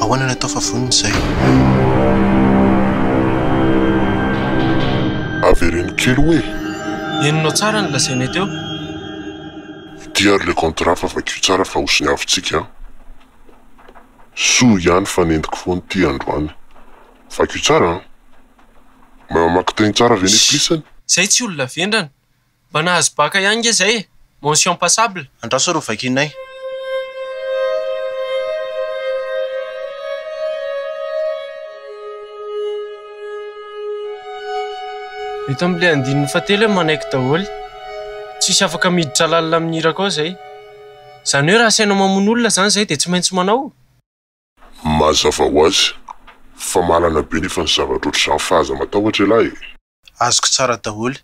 Ahoana no atao fa vonona izay? Avereno kely oe! Henonao tsara ny lazainay teo. Fitia ary le contrat fa vakio tsara fa ho siniavintsika an! Soa ihany fa nentiko foana ity androany. Vakio tsara an! Mamaky teny tsara ve ny plis an? Zay tsy olona vendrana. Mba nahazo baka ihany nge zay e! Mention passable. Andraso ary ho vakianay. Eto amin'ilay andininy fahatelo hoe manaiky daholo. Tsisy afaka miditra lalina amin'ny hira koa izay. Izany hoe raha asainao mamono olona izany izahay dia tsy maintsy manao? Mazava ho azy fa mahalana be nefa ny zavatra ohatr'izany fa aza matahotra ialahy e! Azoko tsara daholo.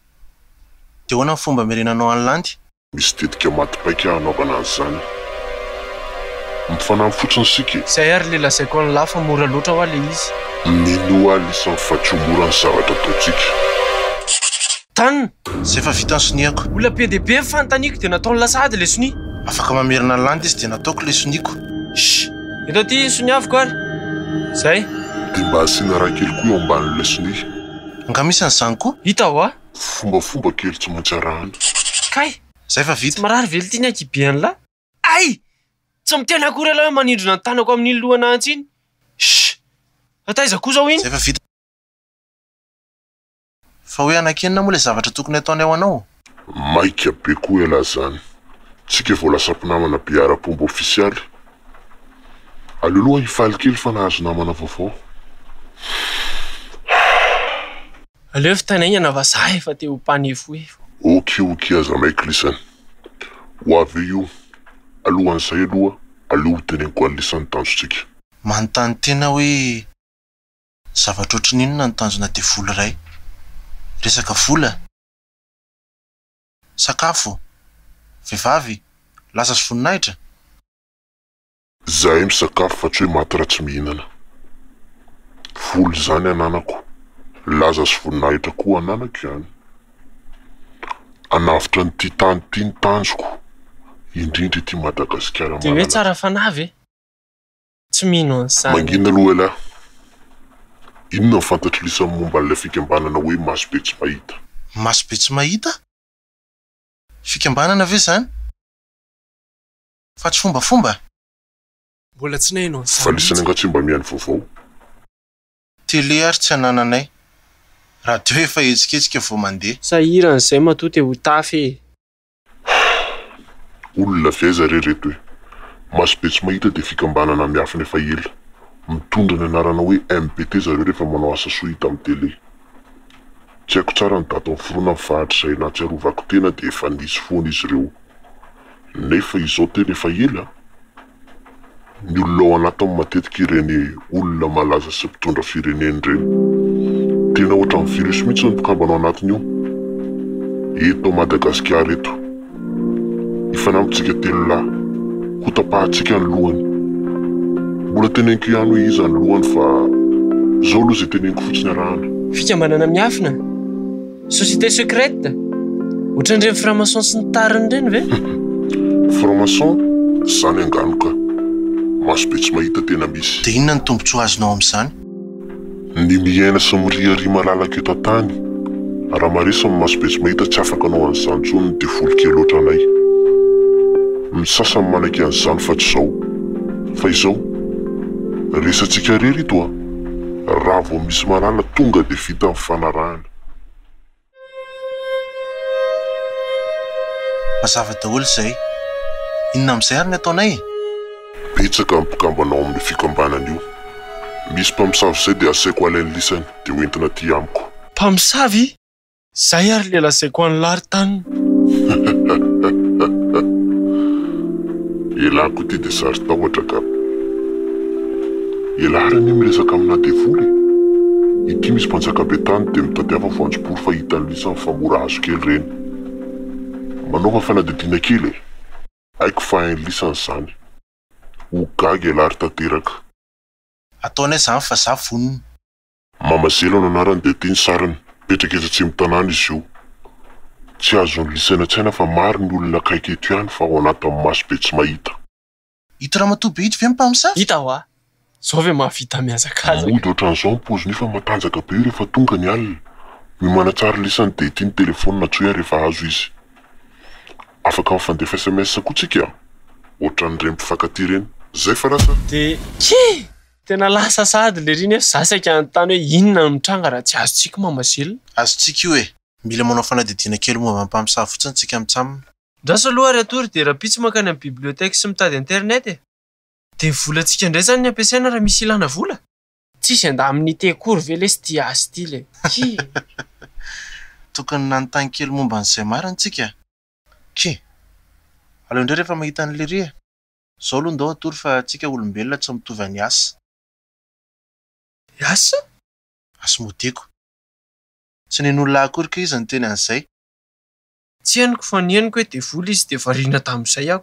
Dia ahoana ny fomba hamerenanao an'i Landy? Misy tetika maty paika hanaovana an'izany. Mifanampy fotsiny isika e! Izay ary ilay lazaiko an'i Lah fa mora loatra hoa ilay izy. Minoa lisany fa tsy ho mora ny zavatra ataontsika. Tan, Izay efa vita ny soniako. Olona be dia be ny fanontaniako dia nataony lasa ady ilay sonia. Afaka mamerina ny landy izy dia nataoko ilay soniako. Shh! Eto aty ny soniaviko ary. Izay. Dia mba asiana ra kely koa eo ambanin'ilay sonia. Angaha misy an'izany koa? Hita hoa. Fombafomba kely tsy maintsy arahana. Kay! Izay fa vita. Tsy marary ve ity ny akia be an'la? Ay! Tsy miteny akory ialahy hoe manindrona ny tanako amin'iny lohana antsy iny. Shh! Fa taiza koa izao iny? Izay fa vita. Fa hoe hanakianina moa le zavatra tokony ataonay ho anao? Maika be koa ialahy zany. Tsika vao lasa mpinamana be ara-pomba ofisialy. Aleo aloha hifaly kely fa nahazo namana vaovao. Aleo vitaina aingana fa za efa te ho mpanefohefo. Ok ok aza maika lisany. Ho avy eo io. Alohan'izay aloha aleo ho teneniko an'lisany tanjotsika. Manontany tena hoe. Zavatra ohatry ny inona no tanjona devoly iray? Resaka vola? Sakafo? Vehivavy? Laza sy voninahitra? Izahay misakafo fa tsy hoe maty raha tsy mihinana. Vola izany ananako, laza sy voninahitra koa ananako izany. Hanavotra an'ity tany ity ny tanjoko, indrindra ity Madagasikara malalaka. Dia hoe tsara fanahy ve? tsy mino an'izany. Mangina aloha ialahy. Inona ny fantatr'i Lisa momba an'ilay fikambanana hoe Masobe Tsy Mahita? Masobe Tsy Mahita? Fikambanana ve izany? Fa tsy fombafomba? Mbola tsy naheno an'izany mihitsy. Fa Lisa nangatsiam-bamiany vaovao. Télé ary tsy anananay. Radio efa hetsiketsika vao mandeha. Sahirana izay matoa te ho tafy e! Hum! Olona avy aiza re reto e! Maso be tsy mahita dia fikambanana miafina efa ela. Mitondra ny anarana hoe MBT zareo rehefa manao asa soa hita amin'ny tele. Tsy haiko tsara ny daty niforonany fa hatrizay nahatsiarovako tena dia efa nisy foana izy ireo. Nefa izao tena efa ela? ny olona ao anatiny matetika ireny olona malaza sy mpitondra firenena ireny. Tena ohatran'ny virus mihitsy ny mpikambana ao anatiny io. Eto Madagasikara eto. Ifanampintsika telo lahy. Hotapahantsika ny lohany. Mbola teneniko ihany hoe iza ny lohany fa izao aloha izay teneniko fotsiny arahana. Fikambanana miafina. Société secrète? Ohatran'ireny franc-maçon sy ny tariny ireny ve? Franc-maçon? Izany angano ka. Maso be tsy mahita tena misy. Dia inona ny tombontsoa azonao amin'izany? Ny miaina sy miriaria malalaka eto an-tany. Raha maresy ny maso be tsy mahita tsy afaka hanao an'izany intsony ny devoly kely ohatranay. Ny sasany manaiky an'izany fa tsy izao. Fa izao? Resatsika irery ito a! Raha vao misy mahalala tonga dia vita ny fanarahana. Mazava daholo izay. Inona amin'izay ary ny ataonay e? Betsaka ny mpikambana ao amin'ny fikambanana io. Misy mpamosavy izay dia asaiko alainy lisany dia hoentina aty amiko. Mpamosavy? Izay ary ilay lazaiko an'i Laritany. Ialako ity dia saron-tahotra ka. Ialahy r'anie miresaka amina devoly e! Ity misy mpanjaka be tany dia mitadiava voanjobory fa hitany lisany fa mora hazo kely reny. Manaova fanadidina kely e! Haiko fa hainy lisany zany. Ho gaga ialahy ry tanteraka. Ataony ahy zany fa za vonona. Mama Zelo no anarany dia ity ny sariny, mipetraka etsy Atsimotanàna izy io. Tsy azon'ny lisany an-tsaina fa maro ny olona akaiky eto ihany fa ao anatin'ny maso be tsy mahita. Ito ramatoa be ito ve mpamosavy? Hita hoa! Zao ve mahavita mihazakazaka? Mody ohatran'izao ny paoziny io fa matanjaka be io rehefa tonga ny alina. Io manatsara lisany dia ity ny telefaonina antsoy ahy rehefa azo izy. Afaka mifandefa sms koa tsika a! Ohatran'ireny mpifankatia ireny. Zay fa lasa. Dia kii! Tena lasa sahady lery iny nefa za saika hanontany hoe inona no mitranga raha tsy azontsika i Mama Zila? Azontsika io e! Mila manao fanadihadiana kely momba ny mpamosavy fotsiny tsika mitsamina. Andraso aloha ry hatory dia rahampitso mankany amin'ny bibliothèque sy mitady internet e! Dia volantsika indray zany ny ampiasaina raha misy ilana vola? Tsisy andamin'ny ity akory ve lesy ity asa ity le? Tokony nanontany kely momba an'izay marina tsika e! Kee! Aleo indray rehefa mahita an'i lery e! Zao aloha ndao hatory fa tsika olombelona tsy mitovy any as. As? Asmodee ko! Tsy nen'olona ahy akory kay iza niteny an'izay! Tsy henoko fa ny henoko hoe devoly izy dia variana tamin'izay aho.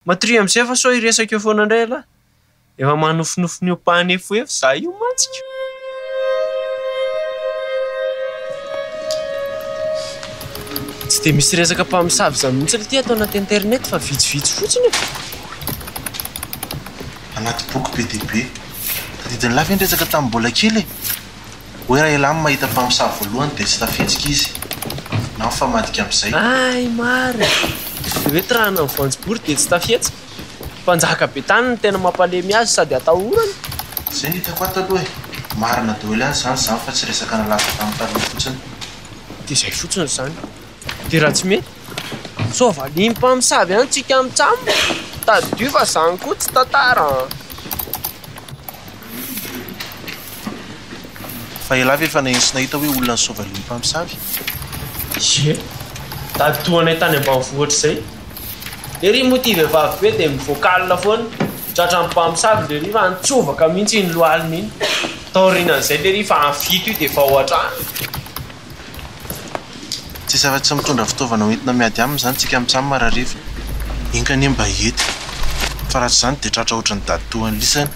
Matoria amin'izay fa sao hiresaka eo foana indray ialahy. Efa manofinofy ny hopahan'efoefo izaho io mantsy. Tsy dia misy resaka mpamosavy izany mihitsy ity ato anaty internet fa vitsivitsy fotsiny e. Anaty boky be dia be. Tadidin'lah ve ny resaka tamin'ny mbola kely e? Hoe raha elam mahita mpamosavy voalohany dia tsy tafihetsika izy na mifamadika amin'izay. Hay marina! Dia hoe tirana ny voanjobory dia tsy tafihetsika? Mpanjaka be tany no tena mampalemy azy sady atahorana. Izay no hitako ato aloha e! Marina daholo ihany izany izany fa tsy resaka nalaza tamin'ny taloha fotsiny. Dia izay fotsiny izany. Dia raha tsy mety? Sao valian'ny mpamosavy ihany tsika mitsam? Tadidio fa izany koa tsy tantara an! Fa elah ve efa nahay sy nahita hoe olona ny sao valian'ny mpamosavy? Ye, tady tohanay tany ambanivohitra izay. Lery moa ity vehivavy be dia mivoaka alina foana, tratran'ny mpamosavy lery fa nitsovaka mihitsy iny lohaliny iny. Taorianan'izay lery fa vita io dia vao hatrany. Tsisy afa tsy mitondra fitaovana ho entina miady aminy izany tsika mitsam marariva. Enga anie mba hiety fa raha tsy izany dia tratra ohatry ny dady toa an'lisany.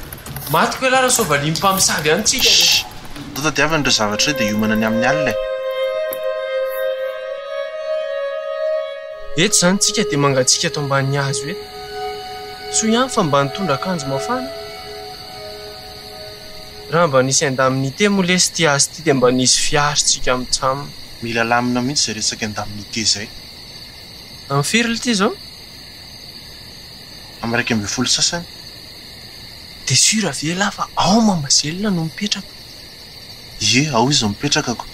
Maty koa elah raha sao valian'ny mpamosavy any tsika anie. Shh! Atao tadiavina ireo zavatra ireo dia hiomana ny amin'ny alina e! Eto izany tsika dia mangatsiaka eto ambanin'ny hazo eto. Soa ihany fa mba nitondra akanjo mafana. Raha mba nisy indemnité moa lesy ty azy ty dia mba nisy fiary tsika am tsam. Mila lamina mihitsy zay resaky indemnité zay. Am firy lty zao? Am iraika ambin'ny folo sasany. De sur ve lah fa ao Mamasela no mipetraka? Ie ao izy no mipetraka ko.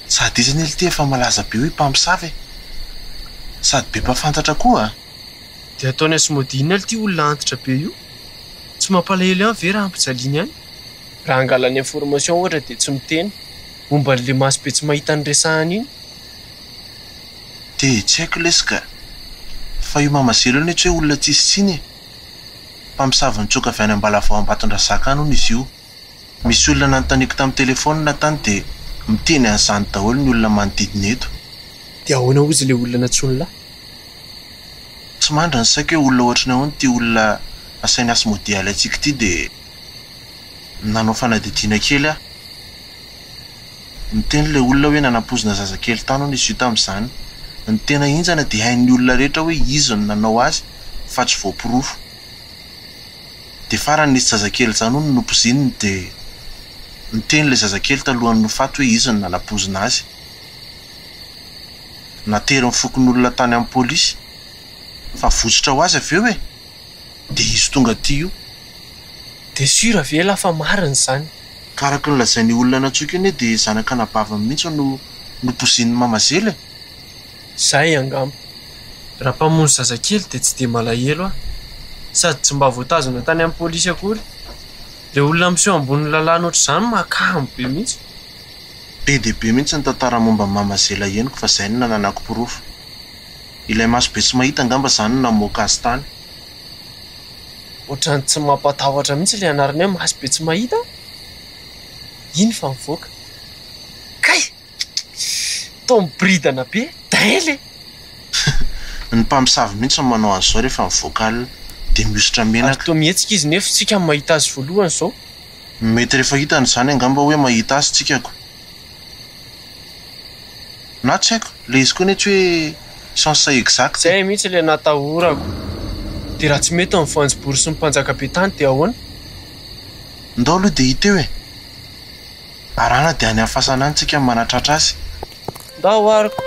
Sady izy anie lty efa malaza be hoe mpamosavy e. Sady be mpafantatra koa. Dia ataony asmodina lty olona antitra be io. Tsy mampalahelo ihany ve raha ampijaliany any? Raha angalany information ohatra dia tsy miteny momba an'ilay maso be tsy mahita ny resahany iny? Dia tsy haiko lesy ka! Fa io Mama Zelo io anie tsy hoe olona tsisy tsiny e! Mpamosavy nitsoaka avy any Ambalavao Ambatondrazaka any hono izy io. Misy olona nanontaniako tamin'ny telefaonina tany dia miteny an'izany daholo ny olona manodidina eto. Dia ahoana hozy ilay olona nantsoiny lahy? Tsy mandry ny saiko hoe olona ohatry ny ahoana ity olona asainy hasmodialy antsika ity dia nanao fanadihadiana kely aho. Niteny ilay olona hoe nanampoizina zazakely tany hono izy io tamin'izany. Ny tena henjana dia hain'ny olona rehetra hoe izy no nanao azy fa tsy voaporofo. Dia farany nisy zazakely janony nopozininy dia niteny ilay zazakely talohan'ny nofaty hoe izy no nanapozina azy. Natery ny fokonolona tany amin'ny polisy fa votsotra ho azy avy eo e! Dia izy tonga aty io. Dia sur avy ela fa marina izany? Ka araka ny lazain'io olona nantsoiko io anie dia zanak'anabaviny mihitsy no nopozin'ny mamazely e! Izay angamba. Raha mpamono zazakely dia tsy dia malahelo aho. Sady tsy mba voatazona tany amin'ny polisy akory. Ilay olona miseho ambonin'ny lalàna ohatr'izany mahakamo be mihitsy. Be dia be mihitsy ny tantara momba an'i Mama Zela henoko fa izay no nananako porofo. Ilay maso be tsy mahita angamba izany no namoaka azy tany. Ohatran'ny tsy mampatahotra mihitsy ilay anarana hoe maso be tsy mahita an! Iny fa mivoaka. Kay! Toa miboridana be daily e! Ny mpamosavy mihitsy no manao azy zao rehefa mivoaka alina dia mihosotra menaka. Ary toa mihetsika izy nefo tsika no mahita azy voalohany zao. Mety rehefa hitany izany angamba hoe mahita azy tsika ko. Na tsy haiko, ilay izy koa anie tsy hoe sens exact e. Zay mihitsy ilay natahorako. Dia raha tsy mety ny voanjobory sy ny mpanjaka be tany dia ahoana? Ndao aloha dia hita eo e! Arara dia any amin'ny fasana any tsika manatratra azy. Ndao ary ko.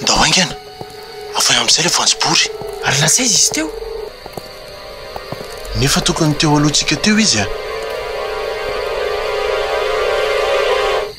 Ndao haingana. Avoay amin'izay ilay voanjobory. Ary lasa aiza izy teo? Nefa tokony teo alohantsika teo izy a!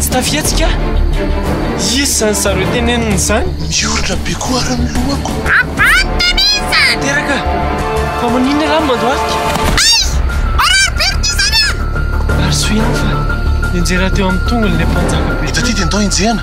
Tsy tafihetsika aho. Iza izany zareo tenenina izany? Miorina be koa ary ny lohako. Abany Denise! Teraka! Fa maninona ialahy no mandohalika? Aiz! Marary be ry Tizana a! Ary soa ihany fa nenjehina teo amin'ny tongony ilay mpanjaka be. Eto aty dia ndao enjehina.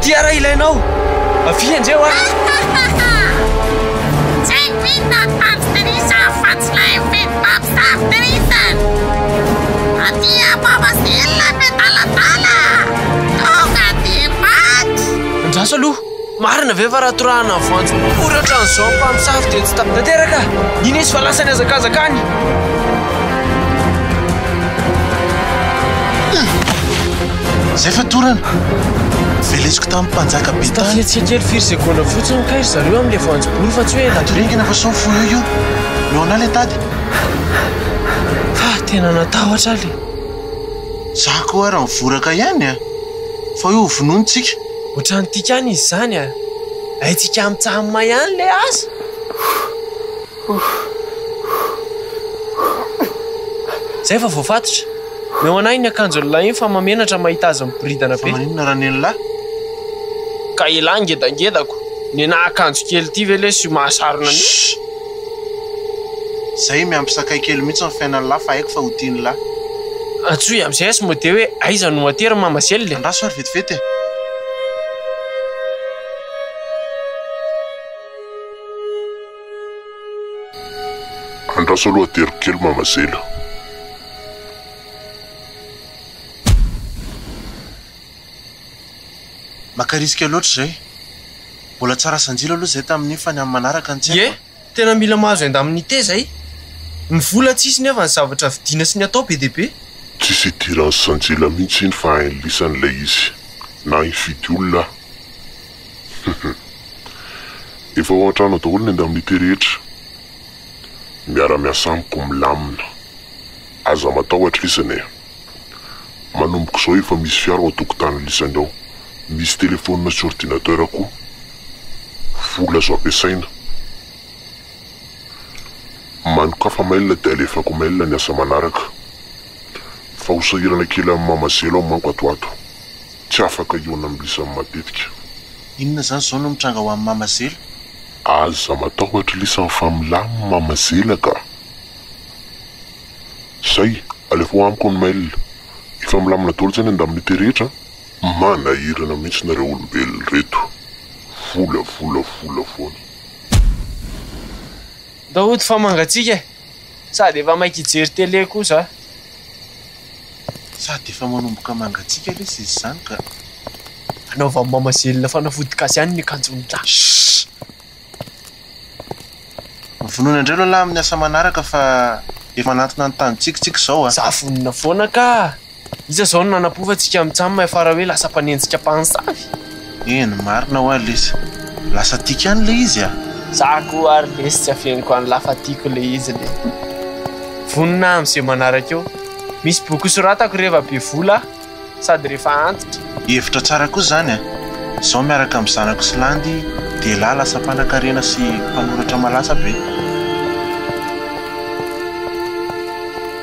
Tia raha ilainao, avia enjeheo aho. Tsy vitany fandikan'isa afa-tsy ilay mifidy baby star deleted. Aty above still ilay be daladala. Tonga aty back. Andraso aloha, marina ve fa raha torahana voanjo poratra an'izao ny mpamosavy dia tsy ta. Tanteraka, iny izy fa lasa nihazakazaka any. Zay fa torana. Veleziko tamin'ny mpanjaka be tany. Tafiatsika kely firy segondra fotsiny kay ry zareo amin'ilay voanjobory fa tsy hoe ela be. Atoriangina fa sao fohy eo io. Noana ilay tady. Fa tena natahotra aho le. Za koa ary mivoraka ihany a. Fa hoe ho vonoiny tsika. Ohatran'ny tikan izy izany a. Haintsika mitsaha-mahay ihany le asa. Zay fa voafatotra. Meo an'ahy ny akanjon'i Lahin fa mahamenatra mahita azy miboridana be. Fa maninona ra nen'lah? Ka elah ngedangedako. Nenah akanjo kely ity ve lesy io mahasarona an'io? Shh! Zay miampy sakay kely mihitsy ny fiainan'lah fa haiko fa ho tian'lah. Antsoy am'zay azy mode hoe aiza no aty ry mama zely e! Andraso ary vetivety e! Andraso aloha ateriko kely mama zela. Maka risque loatra izay. Mbola tsy rasa anjilo aloha izay tamin'io fa ny amin'ny manaraka no tsy haiko e. Ie, tena mila mahazo enda amin'ny te izay. Ny vola tsy hisy nefa ny zavatra vidiana sy ny atao be dia be. Tsisy hidiran'i Sanjila mihitsy iny fa hain'ny lisany ilay izy. Na hifidy olona aho. Efa ao an-trano ao daholo ny indemnité rehetra. Miara-miasa amiko milamina. Aza matahotra isany e. Manomboka izao efa misy fiara ao an-tokotanin'i Lisany ao. Misy telephone sy ordinateur koa. Vola azo ampiasaina. Manokafa mail dia alefako mail ny asa manaraka. Fa ho sahirana kely amin'ny mamadzelo aho manko ato ho ato. Tsy afaka hihaona amin'ny lisany matetika. Inona izany izao no mitranga ho an'i Mama Zela? Aza matahotra lisany fa milamina i Mama Zela ka! Izay, alefaho amiko ny mail. Efa milamina daholo izay ny indemnité rehetra an! Manahirana mihitsy nareo olombelona ireto. Vola, vola, vola foana. Ndao hody fa mangatsiaka e! Sady efa maika hijery télé koa za. Sady efa manomboka mangatsiaka lesy izy izany ka! Anaovan'i Mama Zelina fanafody gasy ihany ny akanjon'i Ra. Shhh! Vonona indray aloha lahy amin'ny asa manaraka fa efa hanantona ny tanintsika isika izao a! Za vonona foana ka! Iza izao no nanampofa antsika mitsaha mahay fara hoe lasa mpanenjika mpansavy? Eny marina hoa lesy. Lasa tiko ihany le izy a! Za koa ary lesy tsy afeniko any lafa tiko le izy le. Vonona aho amze manaraka eo. Misy boky ho soratako reva be vola aho sady refa antitra. Hevitra tsara koa zany a! Zao miaraka am zanako sy landy dehilahy lasa mpanakarena sy mpanoratra malaza be.